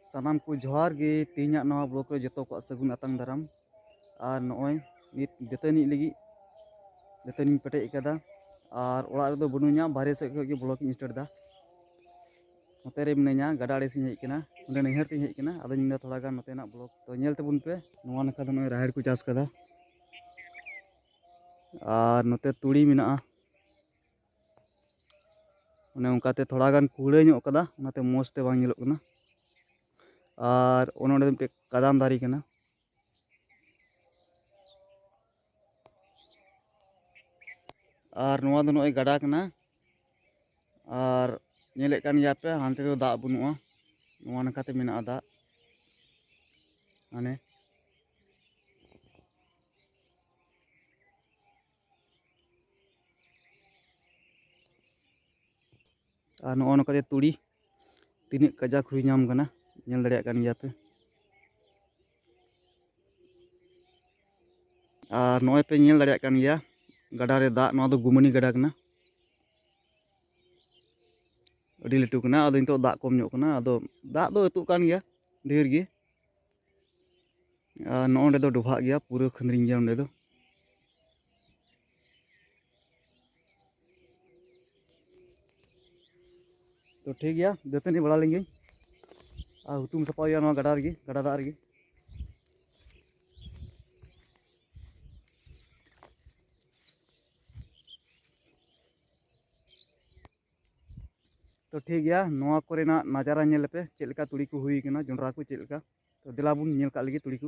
ᱥᱟᱱᱟᱢ ᱠᱚ ᱡᱚᱦᱟᱨ ᱜᱮ ᱛᱮᱦᱮᱧᱟᱜ ᱱᱚᱣᱟ ᱵᱞᱚᱠ ᱨᱮ ᱡᱚᱛᱚ ᱠᱚᱣᱟᱜ ᱥᱟᱹᱜᱩᱱ ᱟᱛᱟᱝ ᱫᱟᱨᱟᱢ ᱟᱨ ᱱᱚᱜᱼᱚᱭ ᱱᱤᱛ ᱫᱟᱹᱛᱟᱹᱱᱤ ᱞᱟᱹᱜᱤᱫ ᱫᱟᱹᱛᱟᱹᱱᱤᱧ ᱯᱮᱴᱮᱡ ᱟᱠᱟᱫᱟ ᱟᱨ ᱚᱲᱟᱜ ᱨᱮᱫᱚ ᱵᱟᱹᱱᱩᱧᱟ ᱵᱟᱨᱦᱮ ᱥᱮᱫ ᱠᱷᱚᱱ ᱜᱮ ᱵᱞᱚᱠ ᱤᱧ ᱥᱴᱟᱨᱴ ᱮᱫᱟ ᱱᱚᱛᱮ ᱨᱮ ᱢᱤᱱᱟᱹᱧᱟ ᱜᱟᱰᱟ ᱟᱲᱮ ᱥᱮᱫ ᱦᱮᱡ ᱟᱠᱟᱱᱟ ᱚᱸᱰᱮ ᱱᱟᱹᱭᱦᱟᱹᱨ ᱛᱮᱧ ᱦᱮᱡ ᱟᱠᱟᱱᱟ ᱟᱫᱚᱧ ᱢᱮᱱᱫᱟ ᱛᱷᱚᱲᱟ ᱜᱟᱱ ᱱᱚᱛᱮᱱᱟᱜ ᱵᱞᱚᱠ ᱛᱚ ᱧᱮᱞ ᱛᱟᱵᱚᱱ ᱯᱮ ᱱᱚᱣᱟ ᱱᱟᱠᱷᱟ ᱫᱚ ᱱᱚᱜᱼᱚᱭ ᱨᱟᱦᱮᱲ ᱠᱚ ᱪᱟᱥ ᱟᱠᱟᱫᱟ ᱟᱨ ᱱᱚᱛᱮ ᱛᱩᱲᱤ ᱢᱮᱱᱟᱜᱼᱟ ᱚᱱᱮ ᱚᱱᱠᱟᱛᱮ ᱛᱷᱚᱲᱟ ᱜᱟᱱ ᱠᱩᱲᱟᱹ ᱧᱚᱜ ᱠᱟᱫᱟ ᱚᱱᱟᱛᱮ ᱢᱚᱡᱽ ᱛᱮ ᱵᱟᱝ ᱧᱮᱞᱚᱜ ᱠᱟᱱᱟ ᱟᱨ ᱚᱱᱮ ᱚᱸᱰᱮ ᱢᱤᱫᱴᱮᱡ ᱠᱟᱫᱟᱢ ᱫᱟᱨᱮ ᱠᱟᱱᱟ ᱟᱨ ᱱᱚᱣᱟ ᱫᱚ ᱱᱚᱜᱼᱚᱭ ᱜᱟᱰᱟ ᱠᱟᱱᱟ ᱟᱨ ᱧᱮᱞᱮᱫ ᱠᱟᱱ ᱜᱮᱭᱟ ᱯᱮ ᱦᱟᱱᱛᱮ ᱫᱚ ᱫᱟᱜ ᱵᱟᱹᱱᱩᱜᱼᱟ ᱱᱚᱣᱟ ᱱᱟᱠᱷᱟᱛᱮ ᱢᱮᱱᱟᱜᱼᱟ ᱫᱟᱜ ᱢᱟᱱᱮ ᱟᱨ ᱱᱚᱜᱼᱚ ᱱᱚᱝᱠᱟ ᱛᱮ ᱛᱩᱲᱤ ᱛᱤᱱᱟᱹᱜ ᱠᱟᱡᱟᱠ ᱦᱩᱭ ᱧᱟᱢ ᱠᱟᱱᱟ ᱧᱮᱞ ᱫᱟᱲᱮᱭᱟᱜ ᱠᱟᱱ ᱜᱮᱭᱟ ᱯᱮ ᱟᱨ ᱱᱚᱜᱼᱚᱭ ᱯᱮ ᱧᱮᱞ ᱫᱟᱲᱮᱭᱟᱜ ᱠᱟᱱ ᱜᱮᱭᱟ ᱜᱟᱰᱟ ᱨᱮ ᱫᱟᱜ ᱱᱚᱣᱟ ᱫᱚ ᱜᱩᱢᱟᱹᱱᱤ ᱜᱟᱰᱟ ᱠᱟᱱᱟ ᱟᱹᱰᱤ ᱞᱟᱹᱴᱩ ᱠᱟᱱᱟ ᱟᱫᱚ ᱱᱤᱛᱚᱜ ᱫᱟᱜ ᱠᱚᱢ ᱧᱚᱜ ᱠᱟᱱᱟ ᱟᱫᱚ ᱫᱟᱜ ᱫᱚ ᱟᱹᱛᱩᱜ ᱠᱟᱱ ᱜᱮᱭᱟ ᱰᱷᱮᱨ ᱜᱮ ᱟᱨ ᱱᱚᱜᱼᱚ ᱱᱚᱸᱰᱮ ᱫᱚ ᱰᱚᱵᱷᱟᱜ ᱜᱮᱭᱟ ᱯᱩᱨᱟᱹ ᱠᱷᱟᱹᱱᱫᱽᱨᱤᱝ ᱜᱮᱭᱟ ᱱᱚᱸᱰᱮ ᱫᱚ ᱛᱚ ᱴᱷᱤᱠ ᱜᱮᱭᱟ ᱫᱟᱹᱛᱟᱹᱱᱤ ᱵᱟᱲᱟ ᱞᱮᱱ ᱜᱤᱧ ᱟᱨ ᱦᱩᱛᱩᱢ ᱥᱟᱯᱷᱟ ᱦᱩᱭᱩᱜᱼᱟ ᱱᱚᱣᱟ ᱜᱟᱰᱟ ᱨᱮᱜᱮ ᱜᱟᱰᱟ ᱫᱟᱜ ᱨᱮᱜᱮ ᱛᱚ ᱴᱷᱤᱠ ᱜᱮᱭᱟ ᱱᱚᱣᱟ ᱠᱚᱨᱮᱱᱟᱜ ᱱᱟᱡᱟᱨᱟ ᱧᱮᱞ ᱞᱮᱯᱮ ᱪᱮᱫ ᱞᱮᱠᱟ ᱛᱩᱲᱤ ᱠᱚ ᱦᱩᱭ ᱠᱟᱱᱟ ᱡᱚᱱᱰᱨᱟ ᱠᱚ ᱪᱮᱫ ᱞᱮᱠᱟ ᱛᱚ ᱫᱮᱞᱟ ᱵᱚᱱ ᱧᱮᱞ ᱠᱟᱜ ᱞᱮᱜᱮ ᱛᱩᱲᱤ ᱠᱚ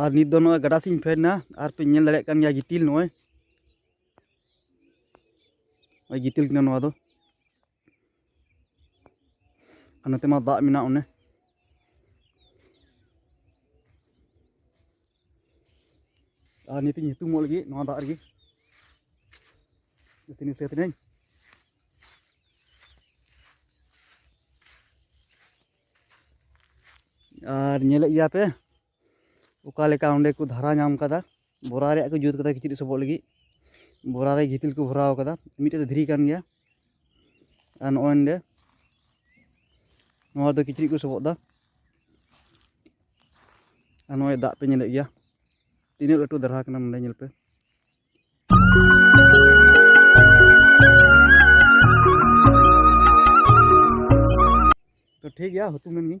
ᱟᱨ ᱱᱤᱛ ᱫᱚ ᱱᱚᱜᱼᱚᱭ ᱜᱟᱰᱟ ᱥᱮᱫ ᱤᱧ ᱯᱷᱮᱰ ᱮᱱᱟ ᱟᱨ ᱯᱮ ᱧᱮᱞ ᱫᱟᱲᱮᱭᱟᱜ ᱠᱟᱱ ᱜᱮᱭᱟ ᱜᱤᱛᱤᱞ ᱱᱚᱜᱼᱚᱭ ᱜᱤᱛᱤᱞ ᱠᱟᱱᱟ ᱱᱚᱣᱟ ᱫᱚ ᱟᱨ ᱱᱚᱛᱮ ᱢᱟ ᱫᱟᱜ ᱢᱮᱱᱟᱜ ᱚᱱᱮ ᱟᱨ ᱱᱤᱛᱤᱧ ᱧᱩᱛᱩᱢᱚᱜ ᱞᱟᱹᱜᱤᱫ ᱱᱚᱣᱟ ᱫᱟᱜ ᱨᱮᱜᱮ ᱱᱤᱛᱤᱧ ᱥᱮ ᱛᱤᱱᱟᱹᱧ ᱟᱨ ᱧᱮᱞᱮᱫ ᱜᱮᱭᱟ ᱯᱮ ᱚᱠᱟ ᱞᱮᱠᱟ ᱚᱸᱰᱮ ᱠᱚ ᱫᱷᱟᱨᱟ ᱧᱟᱢ ᱠᱟᱫᱟ ᱵᱚᱨᱟ ᱨᱮᱭᱟᱜ ᱠᱚ ᱡᱩᱛ ᱠᱟᱫᱟ ᱠᱤᱪᱨᱤᱡ ᱥᱚᱵᱚᱜ ᱞᱟᱹᱜᱤᱫ ᱵᱚᱨᱟ ᱨᱮ ᱜᱤᱛᱤᱞ ᱠᱚ ᱵᱷᱚᱨᱟᱣ ᱠᱟᱫᱟ ᱢᱤᱫᱴᱮᱡ ᱫᱚ ᱫᱷᱤᱨᱤ ᱠᱟᱱ ᱜᱮᱭᱟ ᱟᱨ ᱱᱚᱜᱼᱚᱭ ᱱᱚᱰᱮ ᱱᱚᱣᱟ ᱫᱚ ᱠᱤᱪᱨᱤᱡ ᱠᱚ ᱥᱚᱵᱚᱜ ᱫᱟ ᱟᱨ ᱱᱚᱜᱼᱚᱭ ᱫᱟᱜ ᱯᱮ ᱧᱮᱞᱮᱫ ᱜᱮᱭᱟ ᱛᱤᱱᱟᱹᱜ ᱞᱟᱹᱴᱩ ᱫᱟᱨᱦᱟ ᱠᱟᱱᱟ ᱱᱚᱰᱮ ᱧᱮᱞ ᱯᱮ ᱴᱷᱤᱠ ᱜᱮᱭᱟ ᱦᱩᱛᱩᱢ ᱮᱱ ᱜᱤᱧ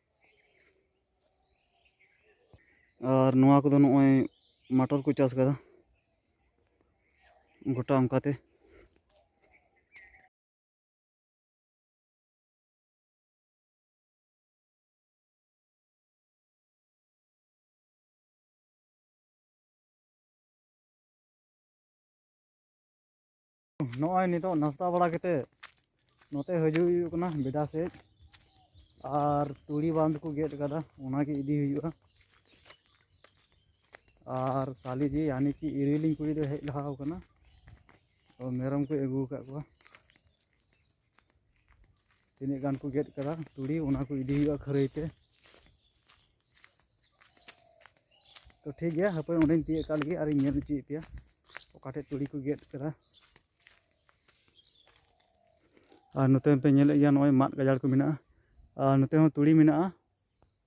ᱟᱨ ᱱᱚᱣᱟ ᱠᱚᱫᱚ ᱱᱚᱜᱼᱚᱭ ᱢᱟᱴᱚᱨ ᱠᱚ ᱪᱟᱥ ᱠᱟᱫᱟ ᱜᱚᱴᱟ ᱚᱱᱠᱟᱛᱮ ᱱᱚᱜᱼᱚᱭ ᱱᱤᱛᱚᱜ ᱱᱟᱥᱛᱟ ᱵᱟᱲᱟ ᱠᱟᱛᱮ ᱱᱚᱛᱮ ᱦᱤᱡᱩᱜ ᱦᱩᱭᱩᱜ ᱠᱟᱱᱟ ᱵᱮᱰᱟ ᱥᱮᱫ ᱟᱨ ᱛᱩᱲᱤ ᱵᱟᱸᱫ ᱠᱚ ᱜᱮᱫ ᱠᱟᱫᱟ ᱚᱱᱟᱜᱮ ᱤᱫᱤ ᱦᱩᱭᱩᱜᱼᱟ ᱟᱨ ᱥᱟᱞᱤ ᱡᱤ ᱭᱟᱱᱤ ᱠᱤ ᱤᱨᱤᱞᱤᱧ ᱠᱩᱲᱤ ᱫᱚ ᱦᱮᱡ ᱞᱟᱦᱟᱣ ᱠᱟᱱᱟ ᱛᱚ ᱢᱮᱨᱚᱢ ᱠᱚ ᱟᱹᱜᱩ ᱟᱠᱟᱫ ᱠᱚᱣᱟ ᱛᱤᱱᱟᱹᱜ ᱜᱟᱱ ᱠᱚ ᱜᱮᱫ ᱠᱟᱫᱟ ᱛᱩᱲᱤ ᱚᱱᱟ ᱠᱚ ᱤᱫᱤ ᱦᱩᱭᱩᱜᱼᱟ ᱠᱷᱟᱹᱨᱟᱹᱭ ᱛᱮ ᱛᱚ ᱴᱷᱤᱠ ᱜᱮᱭᱟ ᱦᱟᱯᱳᱭ ᱚᱸᱰᱮᱧ ᱛᱤᱭᱳᱜ ᱠᱟᱜ ᱞᱟᱹᱜᱤᱫ ᱟᱨᱤᱧ ᱧᱮᱞ ᱦᱚᱪᱚᱭᱮᱫ ᱯᱮᱭᱟ ᱚᱠᱟᱴᱷᱮᱡ ᱛᱩᱲᱤ ᱠᱚ ᱜᱮᱫ ᱠᱟᱫᱟ ᱟᱨ ᱱᱚᱛᱮ ᱯᱮ ᱧᱮᱞᱮᱫ ᱜᱮᱭᱟ ᱱᱚᱜᱼᱚᱭ ᱢᱟᱫ ᱜᱟᱡᱟᱲ ᱠᱚ ᱢᱮᱱᱟᱜᱼᱟ ᱟᱨ ᱱᱚᱛᱮ ᱦᱚᱸ ᱛᱩᱲᱤ ᱢᱮᱱᱟᱜᱼᱟ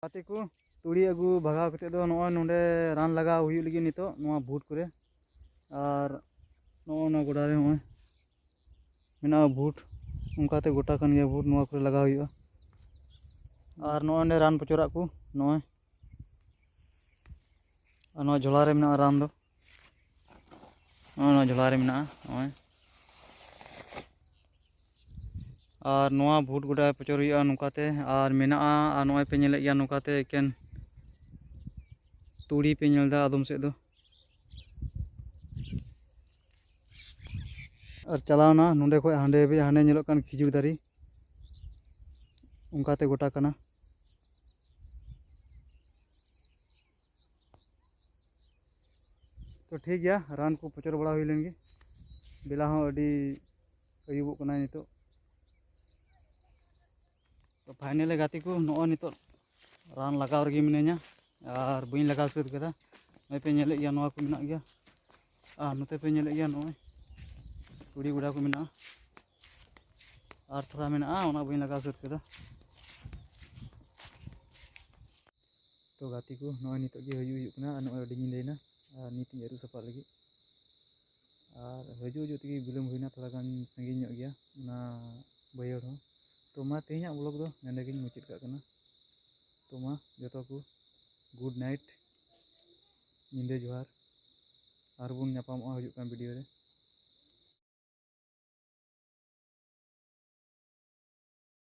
ᱜᱟᱛᱮ ᱠᱚ ᱛᱩᱲᱤ ᱟᱹᱜᱩ ᱵᱷᱟᱜᱟᱣ ᱠᱟᱛᱮ ᱫᱚ ᱱᱚᱜᱼᱚᱭ ᱱᱚᱰᱮ ᱨᱟᱱ ᱞᱟᱜᱟᱣ ᱦᱩᱭᱩᱜ ᱞᱟᱹᱜᱤᱫ ᱱᱤᱛᱚᱜ ᱱᱚᱣᱟ ᱵᱷᱩᱴ ᱠᱚᱨᱮ ᱟᱨ ᱱᱚᱜᱼᱚ ᱱᱚᱣᱟ ᱜᱚᱰᱟ ᱨᱮ ᱱᱚᱜᱼᱚᱭ ᱢᱮᱱᱟᱜᱼᱟ ᱵᱷᱩᱴ ᱚᱱᱠᱟᱛᱮ ᱜᱚᱴᱟ ᱠᱟᱱ ᱜᱮᱭᱟ ᱵᱷᱩᱴ ᱱᱚᱣᱟ ᱠᱚᱨᱮ ᱞᱟᱜᱟᱣ ᱦᱩᱭᱩᱜᱼᱟ ᱟᱨ ᱱᱚᱜᱼᱚᱭ ᱱᱚᱰᱮ ᱨᱟᱱ ᱯᱚᱪᱚᱨᱟᱜ ᱠᱚ ᱱᱚᱜᱼᱚᱭ ᱟᱨ ᱱᱚᱣᱟ ᱡᱷᱚᱞᱟ ᱨᱮ ᱢᱮᱱᱟᱜᱼᱟ ᱨᱟᱱ ᱫᱚ ᱱᱚᱣᱟ ᱡᱷᱚᱞᱟ ᱨᱮ ᱢᱮᱱᱟᱜᱼᱟ ᱱᱚᱜᱼᱚᱭ ᱟᱨ ᱱᱚᱣᱟ ᱵᱷᱩᱴ ᱜᱚᱰᱟ ᱯᱚᱪᱚᱨ ᱦᱩᱭᱩᱜᱼᱟ ᱱᱚᱝᱠᱟᱛᱮ ᱟᱨ ᱢᱮᱱᱟᱜᱼᱟ ᱟᱨ ᱱᱚᱜᱼᱚᱭ ᱯᱮ ᱧᱮᱞᱮᱫ ᱜᱮᱭᱟ ᱱᱚᱝᱠᱟᱛᱮ ᱮᱠᱮᱱ ᱛᱩᱲᱤ ᱯᱮ ᱧᱮᱞ ᱮᱫᱟ ᱟᱫᱚᱢ ᱥᱮᱫ ᱫᱚ ᱟᱨ ᱪᱟᱞᱟᱣᱱᱟ ᱱᱚᱸᱰᱮ ᱠᱷᱚᱡ ᱦᱟᱸᱰᱮ ᱦᱟᱹᱵᱤᱡ ᱦᱟᱸᱰᱮ ᱧᱮᱞᱚᱜ ᱠᱟᱱ ᱠᱷᱤᱡᱩᱨ ᱫᱟᱨᱮ ᱚᱱᱠᱟᱛᱮ ᱜᱚᱴᱟ ᱠᱟᱱᱟ ᱛᱚ ᱴᱷᱤᱠ ᱜᱮᱭᱟ ᱨᱟᱱ ᱠᱚ ᱯᱚᱪᱚᱨ ᱵᱟᱲᱟ ᱦᱩᱭ ᱞᱮᱱ ᱜᱮ ᱵᱮᱞᱟ ᱦᱚᱸ ᱟᱹᱰᱤ ᱟᱹᱭᱩᱵᱚᱜ ᱠᱟᱱᱟ ᱱᱤᱛᱚᱜ ᱛᱚ ᱯᱷᱟᱭᱱᱮᱞᱮ ᱜᱟᱛᱮ ᱠᱚ ᱱᱚᱜᱼᱚᱭ ᱱᱤᱛᱚᱜ ᱨᱟᱱ ᱞᱟᱜᱟᱣ ᱨᱮᱜᱮ ᱢᱤᱱᱟᱹᱧᱟ ᱟᱨ ᱵᱟᱹᱧ ᱞᱟᱜᱟᱣ ᱥᱟᱹᱛ ᱠᱟᱫᱟ ᱱᱚᱜᱼᱚᱭ ᱯᱮ ᱧᱮᱞᱮᱫ ᱜᱮᱭᱟ ᱱᱚᱣᱟ ᱠᱚ ᱢᱮᱱᱟᱜ ᱜᱮᱭᱟ ᱟᱨ ᱱᱚᱛᱮ ᱯᱮ ᱧᱮᱞᱮᱫ ᱜᱮᱭᱟ ᱱᱚᱜᱼᱚᱭ ᱛᱩᱲᱤ ᱜᱚᱰᱟ ᱠᱚ ᱢᱮᱱᱟᱜᱼᱟ ᱟᱨ ᱛᱷᱚᱲᱟ ᱢᱮᱱᱟᱜᱼᱟ ᱚᱱᱟ ᱵᱟᱹᱧ ᱞᱟᱜᱟᱣ ᱥᱟᱹᱛ ᱠᱟᱫᱟ ᱛᱚ ᱜᱟᱛᱮ ᱠᱚ ᱱᱚᱜᱼᱚᱭ ᱱᱤᱛᱚᱜ ᱜᱮ ᱦᱤᱡᱩᱜ ᱦᱩᱭᱩᱜ ᱠᱟᱱᱟ ᱟᱨ ᱱᱚᱜᱼᱚᱭ ᱟᱹᱰᱤ ᱧᱤᱫᱟᱹᱭᱮᱱᱟ ᱟᱨ ᱱᱤᱛ ᱤᱧ ᱟᱹᱨᱩᱵ ᱥᱟᱯᱷᱟᱜ ᱞᱟᱹᱜᱤᱫ ᱟᱨ ᱦᱤᱡᱩᱜ ᱦᱤᱡᱩᱜ ᱛᱮᱜᱮ ᱵᱤᱞᱚᱢ ᱦᱩᱭᱱᱟ ᱛᱷᱚᱲᱟ ᱜᱟᱱ ᱥᱟᱺᱜᱤᱧ ᱧᱚᱜ ᱜᱮᱭᱟ ᱚᱱᱟ ᱵᱟᱹᱭᱦᱟᱹᱲ ᱦᱚᱸ ᱛᱚ ᱢᱟ ᱛᱮᱦᱮᱧᱟᱜ ᱵᱞᱚᱜᱽ ᱫᱚ ᱱᱚᱸᱰᱮ ᱜᱤᱧ ᱢᱩᱪᱟᱹᱫ ᱠᱟᱜ ᱠᱟᱱᱟ ᱛᱚ ᱢᱟ ᱡᱚᱛᱚ ᱠᱚ ᱜᱩᱰ ᱱᱟᱭᱤᱴ ᱧᱤᱫᱟᱹ ᱡᱚᱦᱟᱨ ᱟᱨᱵᱚᱱ ᱧᱟᱯᱟᱢᱚᱜᱼᱟ ᱦᱤᱡᱩᱜ ᱠᱟᱱ ᱵᱷᱤᱰᱤᱭᱳ ᱨᱮ